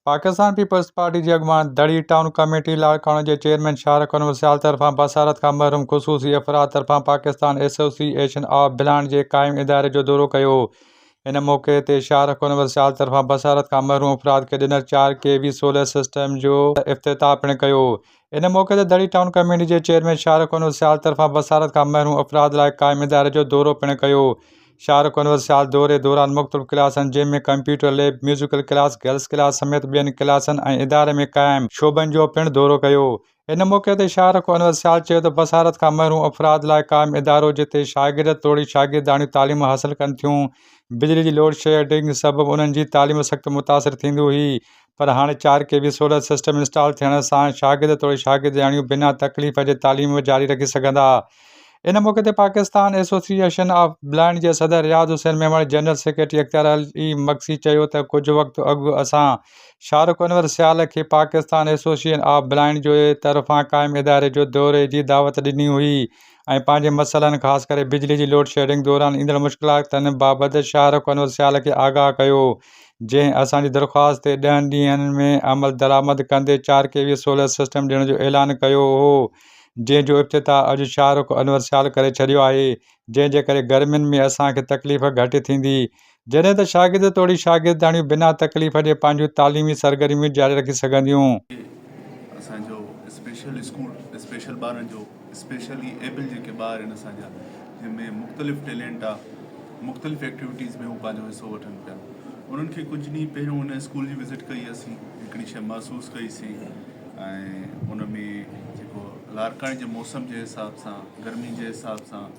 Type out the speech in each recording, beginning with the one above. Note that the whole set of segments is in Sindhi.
پاڪستان پيپلز پارٽي جي اڳواڻ دڙي ٽائون ڪميٽي لاڙڪاڻو جي چيئرمين شاهرخ انور سيال طرفان بصارت کان محروم خصوصي افراد طرفان Pakistan association of blind جي قائم اداري جو دورو ڪيو ان موقعي تي شاهرخ انور سيال طرفان بصارت کان محروم افراد کي ڏنل چار ڪي وي سولر سسٽم جو افتتاح پڻ ڪيو ان موقعي تي دڙي ٽائون ڪميٽي جي چيئرمين شاهرخ انور سيال طرفان بصارت کان محروم افراد لاء قائم اداري جو دورو پڻ ڪيو شاهرخ انور سيال دوري دوران مختلف ڪلاسن جنهن ۾ computer lab musical class girls class سميت ٻين ڪلاسن ۽ اداري ۾ قائم شعبن جو پڻ دورو ڪيو ان موقعي تي شاهرخ انور سيال چيو ته بصارت کان محروم افراد لاء قائم ادارو جتي شاگرد توڙي شاگرداڻيون تعليم حاصل ڪن ٿيون بجلي جي لوڊشيڊنگ سبب انهن جي تعليم سخت متاثر ٿيندي هئي پر هاڻي چار K V solar system install ٿيڻ سان شاگرد توڙي شاگردياڻيون بنا تڪليف جي تعليم جاري رکي سگهندا. ان موقعي تي پاڪستان ايسوسيئيشن آف بلائنڊ جي صدر رياض حسين ميمڻ، جنرل سيڪريٽري اختيار علي مگسي چيو ته ڪجهه وقت اڳ اسان شارق انور سيال کي پاڪستان ايسوسيئيشن آف بلائنڊ جي طرفان قائم اداري جو دوري جي دعوت ڏني هئي ۽ ۽ پنهنجي مسئلن خاص ڪري بجلي جي لوڊ شيڊنگ دوران ايندڙ مشڪلاتن بابت شاهه رخ انور سيال کي آگاهه ڪيو جنهن اسان جي درخواست تي ڏهن ڏينهن ۾ عملدرآمد ڪندي چار ڪي وي سولر سسٽم ڏيڻ جو اعلان ڪيو هو جنهن جو افتتاح اڄ شاهه رخ انور سيال ڪري ڇڏيو آهي جنهن جي ڪري گرمين ۾ اسان کي تڪليف گهٽ ٿيندي جڏهن ته شاگرد توڙي شاگردياڻيون بنا تڪليف جي پنهنجون تعليمي سرگرميون جاري رکي سگهنديون. هي اسان جو اسپيشل اسڪول اسپيشل ٻارن جو اسپيشلي ايبل جيڪي ٻار آهن اسان جا جن ۾ مختلف ٽيلينٽ آ مختلف ايڪٽيوٽيز ۾ هو پنهنجو حصو وٺن پيا انهن کي ڪجهه ڏينهن پهريون ان اسڪول جي وزٽ ڪئي اسين هڪڙي شيء محسوس ڪئي سي ۽ ان ۾ جيڪو لارڪاڻي جي موسم جي حساب سان گرمي جي حساب سان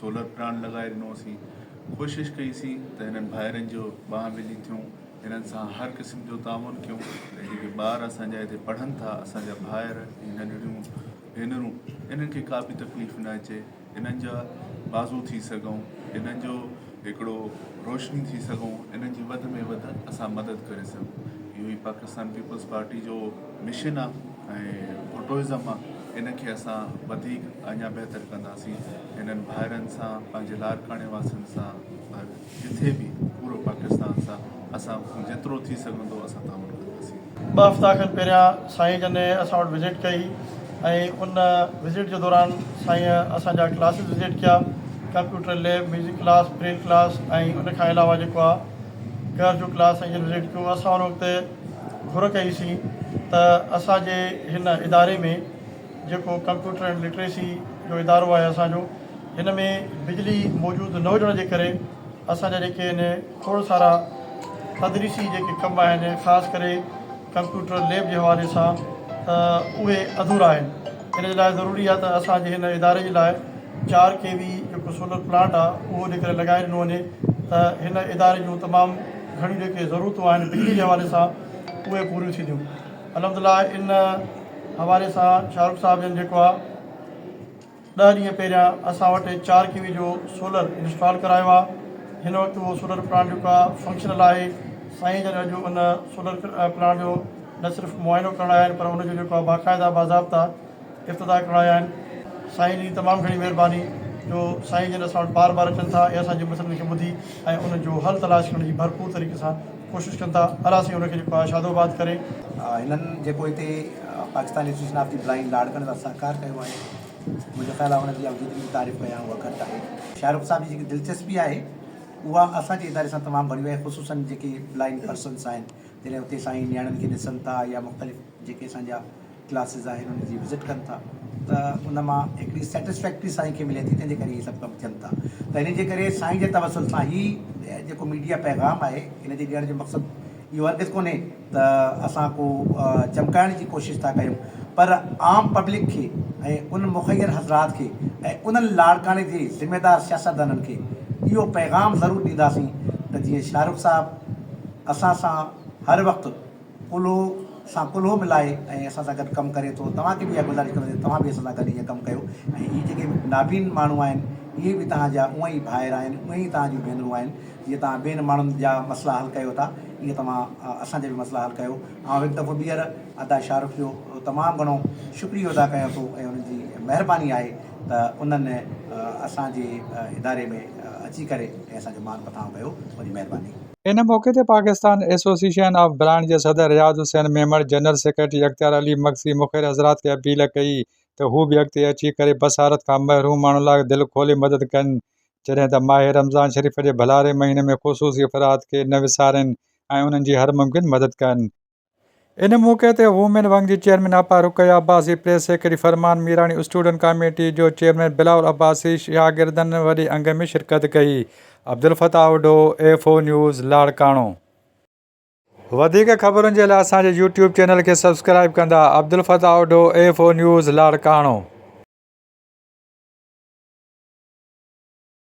سولر پلانٽ لڳائي ڏنو سين ڪوشش ڪئي سين ته هنن ڀائرن جو ٻانهن ٻلي ٿيون هنن سان هر قسم جو تعاون ڪيون ۽ جيڪي ٻار اسان جا هتي پڙهن ٿا اسان جا ڀائر ۽ ننڍڙيون ڀينرون انهن کي ڪا به تڪليف نه اچي انهن جا بازو ٿي سگهون انهن جو هڪڙو روشني ٿي سگهون انهن جي وڌ ۾ وڌ اسان مدد ڪري سگهون اهو ئي پاڪستان پيپلز پارٽي جو مشن آهي ۽ فوٽوازم آ ان کي اسان وڌيڪ اڃا بهتر ڪنداسين هنن ڀائرن سان پنهنجي لاڙڪاڻي واسين سان ۽ جٿي به پورو پاڪستان سان اسان کان جيترو ٿي سگهندو اسان تعاون ڪنداسين. ٻه هفتا کن پهريان سائين جن اسان وٽ وزٽ ڪئي ۽ ان وزٽ جي دوران سائين اسان جا ڪلاسز وزٽ ڪيا computer lab, music class, braille class ۽ ان کان علاوه جيڪو آ گهر جو ڪلاس سائين جن وزٽ ڪيو اسان ان وقت گهر ڪئي سين ته اسان جي هن اداري ۾ جيڪو ڪمپيوٽر اينڊ لٽريسي جو ادارو آهي اسان جو هن ۾ بجلي موجود نه هجڻ جي ڪري اسان جا جيڪي آهن کوڙ سارا تدريسي جيڪي ڪم آهن خاص ڪري ڪمپيوٽر ليب جي حوالي سان ته اهي اڌورا آهن ان جي لاء ضروري آهي ته اسان جي هن اداري جي لاء چار ڪي وي جيڪو سولر پلانٽ آهي اهو جيڪڏهن لڳائي ڏنو وڃي ته هن اداري جون تمام گهڻيون جيڪي ضرورتون آهن بجلي جي حوالي سان اهي پوريون ٿينديون الحمدلله ان حوالي سان شاهه رخ صاحب جن جيڪو آهي ڏهه ڏينهن پهريان اسان وٽ چار ڪي وي جو سولر انسٽال ڪرايو آهي هن وقت اهو سولر پلانٽ جيڪو آهي فنڪشنل آهي سائين جن اڄ ان سولر پلانٽ جو نه صرف معائنو ڪرڻ آيا آهن پر ان جو جيڪو آهي باقاعده باضابطا افتتاح ڪرايا آهن. سائين جي تمام گهڻي مهرباني جو سائين جن اسان وٽ بار بار اچن ٿا ۽ اسان جي مسئلن کي ٻڌي ۽ انهن جو حل تلاش ڪرڻ جي ڀرپور طريقي سان ڪوشش ڪن ٿا الله سائين انهن کي جيڪو آهي شادو آباد ڪري. هنن جيڪو هتي Pakistan association of the blind لاڙڪاڻي سان سهڪار ڪيو آهي منهنجو خيال آهي انهن جي آئون جيتري به تعريف ڪيان اها گهٽ آهي. شاهه رخ صاحب جي جيڪي دلچسپي آهي اها اسان جي اداري سان تمام ڀريون آهي خصوصا جيڪي بلائنڊ پرسنس آهن جڏهن اتي سائين نياڻين کي ڏسن ٿا يا مختلف جيڪي اسان جا ڪلاسز آهن انهن جي وزٽ ڪن ٿا ته ان مان هڪڙي سيٽسفيڪٽري سائين کي ملي ٿي تنهن جي ڪري هي سڀ ڪم ٿين ٿا ته انهن جي ڪري سائين جي توسل سان هي جيڪو ميڊيا پيغام آهي ان جي ڏيڻ جو مقصد اهو هرگز ڪونهي ته اسان ڪو چمڪائڻ جي ڪوشش ٿا ڪيون پر عام پبلڪ کي ۽ ان مخير حضرات کي ۽ انهن لاڙڪاڻي جي ذميدار سياستدانن کي اهو پيغام ضرور ڏينداسين ته جيئن شاهه رخ صاحب اسان سان هر وقت ڪلهو سان ڪلهو ملائي ۽ اسان سان گڏ ڪم ڪري ٿو توهان کي به اها گذارش ڪنداسين توهان به اسان سان گڏ ايئن ڪم ڪيو ۽ هي جيڪي نابين ماڻهو آهن اهي به توهان جا اونئن ئي ڀائر آهن اونئن ئي توهان جون ڀينرون آهن جيئن توهان ٻين ماڻهن جا مسئلا حل ڪيو ٿا ايئن توهان اسان جا به مسئلا حل ڪيو آئون هڪ دفعو ٻيهر ادا شاهه رخ جو تمام گهڻو شڪريو ادا ڪيان ٿو ۽ انهن جي مهرباني آهي ته انهن اسان جي اداري ۾ اچي ڪري ۽ اسان جو مان مٿانهون ڪيو وڏي مهرباني. ان موقعي تي پاڪستان ايسوسيئشن آف برانڊ جي صدر رياض حسين ميمڻ، جنرل سيڪريٽري اختيار علي مگسي مخير حضرات کي اپيل ڪئي ته هو به اڳتي اچي ڪري بصارت کان محروم ماڻهن لاء دل کولي مدد ڪن جڏهن ته ماهه رمضان شريف جي ڀلاري مهيني ۾ خصوصي افراد کي نه وسارين ۽ انهن جي هر ممڪن مدد ڪن. ان موقعي تي وومين ونگ جي chairman Apa Ruqaiya Abbasi, press secretary Farman Mirani, student committee جو چيئرمين بلاول عباسي، شاگردن وڏي انگ ۾ شرڪت ڪئي. Abdulfattah Odho, F O news, Larkana. وڌيڪ خبرن جي لاء اسان جي يوٽيوب چينل کي سبسڪرائيب ڪندا. Abdulfattah Odho, F O news, Larkana.